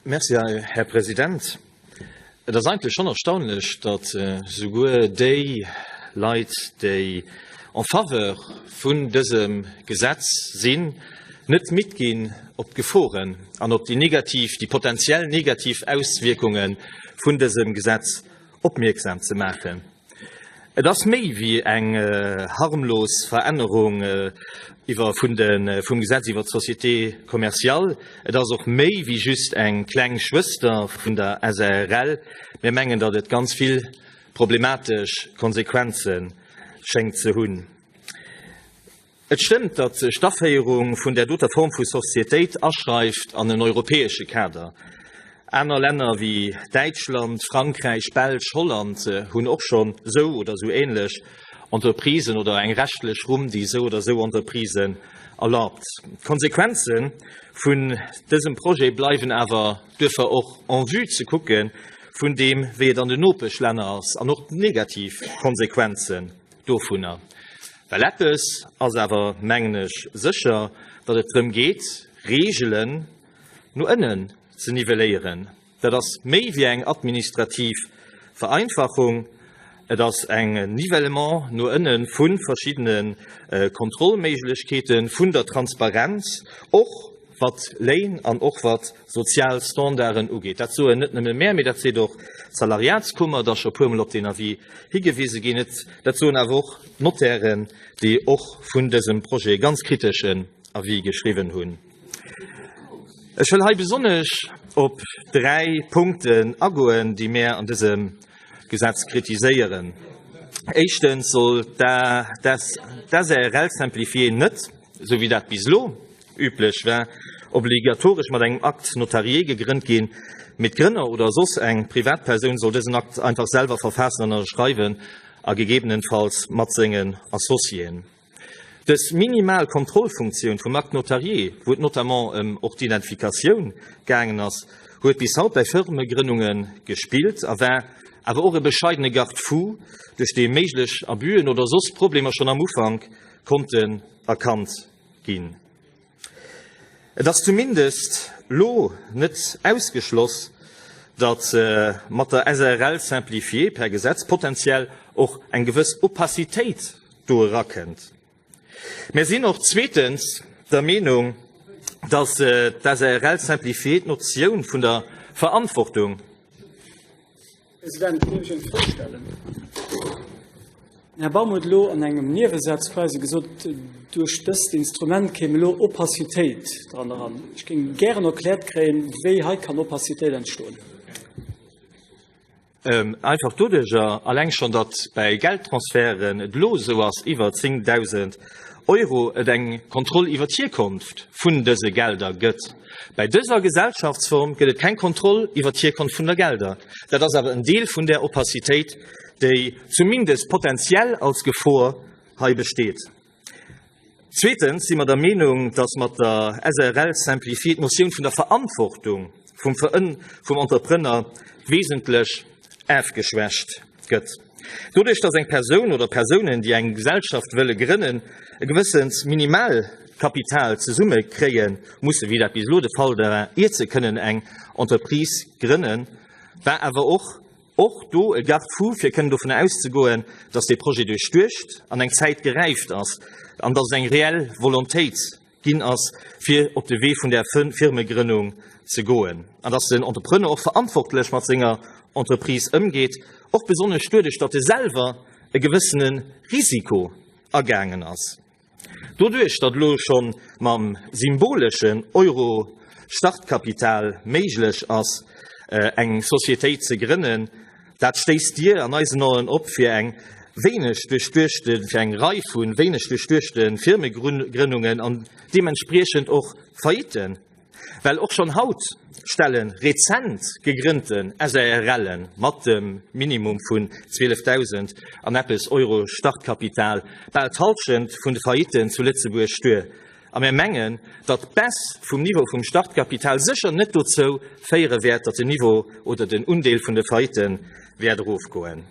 Merci, Här President. Et ass eigentlech schonn erstaunlech, datt souguer déi Leit, déi en faveur vun dësem Gesetz sinn, net midd ginn, op d'Geforen an op déi negativ, déi potenziell negativ Auswierkunge vun dësem Gesetz opmierksam ze maachen. Et ass méi wéi eng harmlos Verännerung iwwer vun de vum Gesetz iwwer d'Société commerciale. Et ass och méi wéi just eng kleng Schwëster vun der SARL. Mir mengen, datt et ganz vill problematesch Konsequenze schéngt ze hunn. Et stëmmt, datt sech d'Aféierung vun där doter Form vu Societéit aschreift an en europäesche Kader. Aner Länner wéi Däitschland, Frankräich, Belsch, Holland hunn och schonn esou oder esou ähnlech Entreprisen oder eng rechtlech Rumm, déi esou oder esou Entreprisen erlaabt. D'Konsequenze vun dësem Projet bleiwen awer duerfir och en vue ze kucke vun deem, wéi et an den Nopeschlänner ass an och d'negativ Konsequenze dovunner, well eppes ass awer, mengen ech, sécher, datt et drëm geet, Reegelen no ënnen ze nivelléieren. Dat ass méi wéi eng administrativ Vereinfachung, et ass e Nivellement no ënne vu verschiddene Kontrollméiglechkeeten, vun der Transparenz och. wat Léin an och wat sozial Standarden ugeet. Dat soen net nëmme mär, mee dat seet och d'Salariatskummer, et ass scho puermol op deen Avis higewise ginn, dat soen awer och d'Notairen, déi och vun dësem Projet ganz kriteschen Avis geschriwwen hunn. Ech wëll hei besonnesch op dräi Punkten agoen, déi mär an dësem Gesetz kritiséieren. Éischtens soll d'ASRL simplifiée net, esou wéi dat bis elo Üblech war obligatoresch mat engem Acte notarié gegrënnt ginn, mee d'Grënner oder soss eng Privatpersoun soll dësen Akt einfach selwer verfaassen an ënnerschreiwen, a gegebenenfalls mat sengen Associéen. Dës minimal Kontrollfunktioun vum Acte notarié, wou et notamment ëm och d'Identifikatioun gaangen ass, huet bis haut bäi Firmegrënnunge gespillt a war awer och e bescheidene Garde-fou, duerch dee méiglech Abüen oder soss Problemer schonn am Ufank konnten erkannt ginn. Et ass zumindest lo net ausgeschloss, datt mat der SARL simplifiée per Gesetz potentiell och eng gewëss Opacitéit do erakënnt. Mer sinn och zweetens der Meenung, datt d'SARL simplifiée d'Notioun vun der Verantwortung, Här Baum huet elo an engem Niewesätz quasi gesot, duerch dëst Instrument kéim elo Opacitéit dran eran. Ech géing gären erkläert kréien, wéi hei kann Opacitéit entstoen. Einfach doduerjer alleng schonn, datt bäi Geldtransferten et elo esou ass, iwwer 10.000 Euro, et eng Kontroll iwwer d'Hierkonft vun dëse Gelder gëtt. Bäi dëser Gesellschaftsform gëtt et keng Kontroll iwwer d'Hierkonft vun der Gelder. Dat ass awer en Deel vun där Opacitéit, déi zumindest potentiell als Gefor hei besteet. Zweetens si mer der Meenung, dass mat der SREL simplifiée d'Notioun vun der Verantwortung vum Entrepreneur wesentlech ofgeschwächt gëtt. Doduerch datt eng Persoun oder Persounen, déi eng Gesellschaft wëlle grënnen, e gewëssent Minimalkapital zesumme kréie mussen, wéi dat bis elo de Fall war, iert se kënnen eng Entreprise grënnen, war awer och och do e Garde-fou, fir kënnen dovun auszegoen, datt dee Projet duerchduecht an eng Zäit geräift ass an datt et eng reell Volontéit ginn ass, fir op de Wee vun der Firmegrënnung ze goen, an datt den Entrepreneur och verantwortlech mat senger Entreprise ëmgeet, och besonnesch duerduerch, datt e selwer e gewëssene Risiko agaangen ass. Doduerch, datt elo scho mam symboleschen Euro Startkapital méiglech ass, eng Societéit ze grënnen, Dat stéisst Dir an eisen Aen op fir eng wéineg duerchduechte, fir eng Rei vu wéineg duerchduechte Firmegrënnungen an deementspriechend och Faillitten. Well och schonn haut stelle rezent gegrënnten SARLe mat dem Minimum vun 12.000 an eppes Euro Startkapital bal d'Hallschent vun de Faillitten zu Lëtzebuerg duer. A mir mengen, datt d'Baisse vum Niveau vum Startkapital sécher net dozou féiere wäert, datt den Niveau oder den Undeel vun de Faillite wäert erofgoen.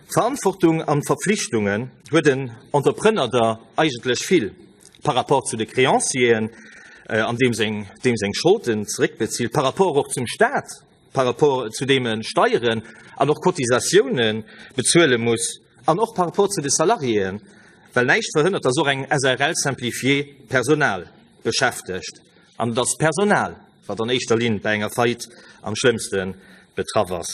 D'Verantwortung an d'Verpflichtungen huet en Entrepreneur der eigentlech vill par rapport zu de Créancieren, an deem seng Scholden zeréckbezilt, par rapport och zum Staat, par rapport zu deem e Steieren an och Cotisatioune bezuele muss an och par rapport zu de Salariéen, well näischt verhënnert, dass och eng SARL simplifiée Personal beschäftegt an et ass d'Personal, wat an éischter Linn bei enger Faillite am schlëmmste betraff ass.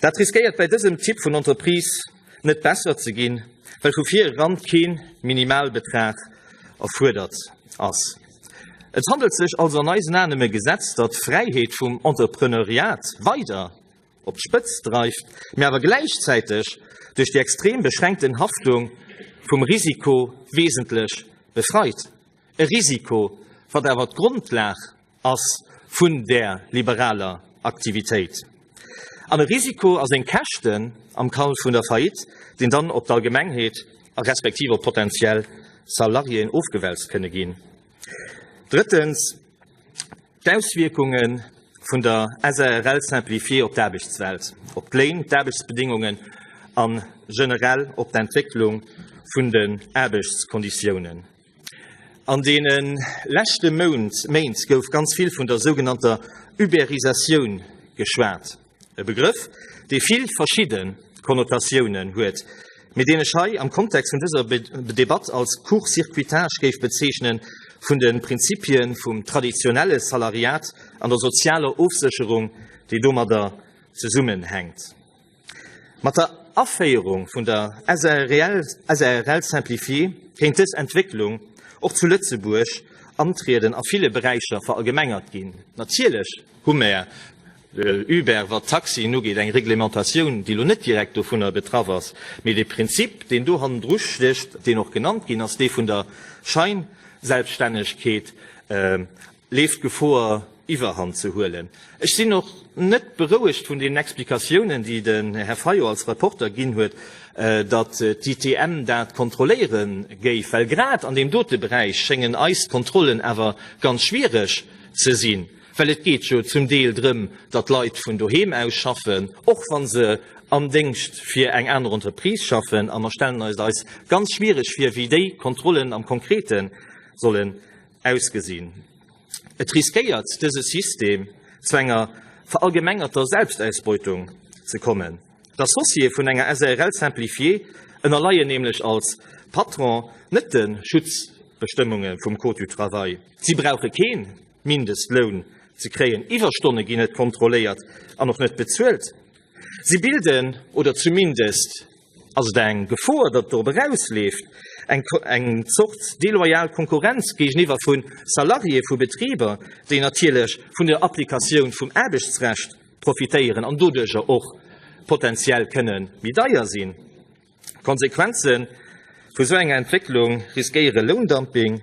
Dat riskéiert bei dësem Typ vun Entreprise net besser ze ginn, well vu vir eran kee Minimalbetrag erfuerdert ass. Et handelt sech also an eisen Aen ëm e Gesetz, dat d'Fräiheet vum Entrepreneuriat weider op d'Spëtzt dreift, mee awer gläichzäiteg duerch déi extrem beschränkten Haftung vum Risiko wesentlech befreit. E Risiko, wat awer d'Grundlag ass vun där liberaler Aktivitéit. An e Risiko a seng Käschten am Kall vun der Faillite, deen dann op d'Allgemengheet a respektiv op potentiell Salariéen ofgewälzt kënne ginn. Drëttens, d'Auswierkungen vun der SARL Simplifiée op d'Aarbechtswelt, op d'Léin, d'Aarbechtsbedingungen an generell op d'Entwécklung vun den Aarbechtskonditiounen. An deene leschte Méint gouf ganz vill vun der sougenannter Uberisatioun geschwat, e Begrëff, dee vill verschidde Konnotatiounen huet, mee deen ech hei am Kontext vun dëser Debatt als Court-circuitage géif bezeechnen vun de Prinzipie vum traditionelle Salariat an der sozialer Ofsécherung, déi domadder zesummenhänkt. Mat der Aféierung vun der SARL, SARL simplifiée, kéint dës Entwécklung och zu Lëtzebuerg antrieden a ville Beräicher verallgemengert ginn. Natierlech hu mer Uber, wat d'Taxien ugeet, eng Reglementatioun, déi elo net direkt dovunner betraff ass, mee de Prinzip, deen do hannendru stécht, deen och genannt ginn ass, dee vun der Scheinselbststännegkeet, leeft Gefoer Iwwerhand ze huelen. Ech sinn och net berouegt vun deenen Explikatiounen, déi den Här Fayot als Rapporter ginn huet, datt d'ITM dat kontrolléiere géif, well grad an deem dote Beräich schéngen eis d'Kontrollen awer ganz schwiereg ze sinn, well et geet jo zum Deel drëm, datt Leit vun doheem aus schaffen, och wa se am Déngscht fir eng aner Entreprise schaffen. A mer stellen eis et eis ganz schwiereg vir, wéi déi Kontrollen am Konkrete solle ausgesinn. Et riskéiert dëse System zu enger verallgemengerter Selbstausbeutung ze kommen. D'Associéë vun enger SARL simplifiée ënnerleien nämlech als Patron net de Schutzbestëmmunge vum Code du travail. Si brauche kee Mindestloun ze kréien, Iwwerstonne ginn net kontrolléiert an och net bezuelt. Si bilden oder zumindest Ass et eng Gefor, datt dorop erausleeft, eng Zort deloyal Konkurrenz géigeniwwer vu Salariéeë vu Betriber, déi natierlech vun der Applikatioun vum Aarbechtsrecht profitéieren an doduercher och potentiell kënne méi deier sinn? D'Konsequenze vu esou enger Entwécklung riskéiere Loundumping,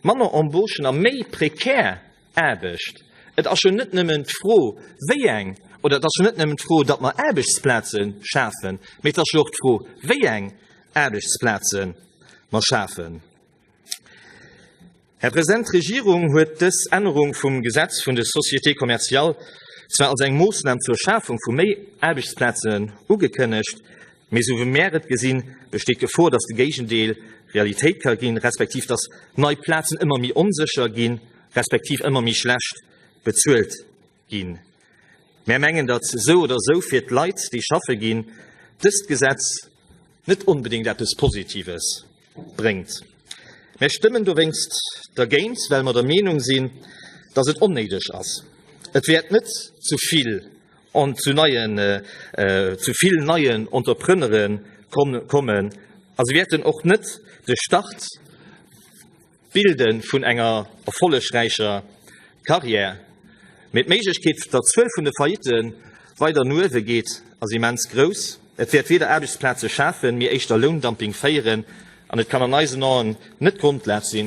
manner Embauchen a méi prekär Aarbecht. Et ass jo net nëmmen d'Fro, wéi eng, oder et ass jo net nëmmen d'Fro, datt mer Aarbechtsplaze schafen, mee et ass jo och d'Fro, wéi eng Aarbechtsplaze mer schafen. Här President, d'Regierung huet dës Ännerung vum Gesetz vun de Sociétés commerciales zwar als eng Moossnam zur Schafung vu méi Aarbechtsplazen ugekënnegt, Mee sou wéi mär et gesinn, besteet d'Gefor, datt de Géigendeel Realitéit ka ginn, respektiv datt nei Plazen ëmmer méi onsécher ginn, respektiv ëmmer méi schlecht bezuelt ginn. Mär mengen, datt sou oder sou fir d'Leit, déi schaffe ginn, dëst Gesetz net onbedéngt eppes Positives bréngt. Mär stëmmen dowéinst dergéint, well mer der Meenung sinn, dass et onnéideg ass. Et wäert net zu vill an zu neien, zu vill neien Entrepreneuren kommen a se wäerten och net de Start, D'Bilde vun enger erfollegräicher Karriär, mee d'Méiglechkeet, datt d'Zuel vun de Faillite weider no uewe geet, ass immens grouss. Et wäert weder Aarbechtsplaze schafen, mee éischter Loundumping féieren an et kann an eisen Aen net d'Grondlag si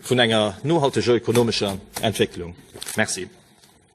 vun enger nohalteger ökonomescher Entwécklung. Merci.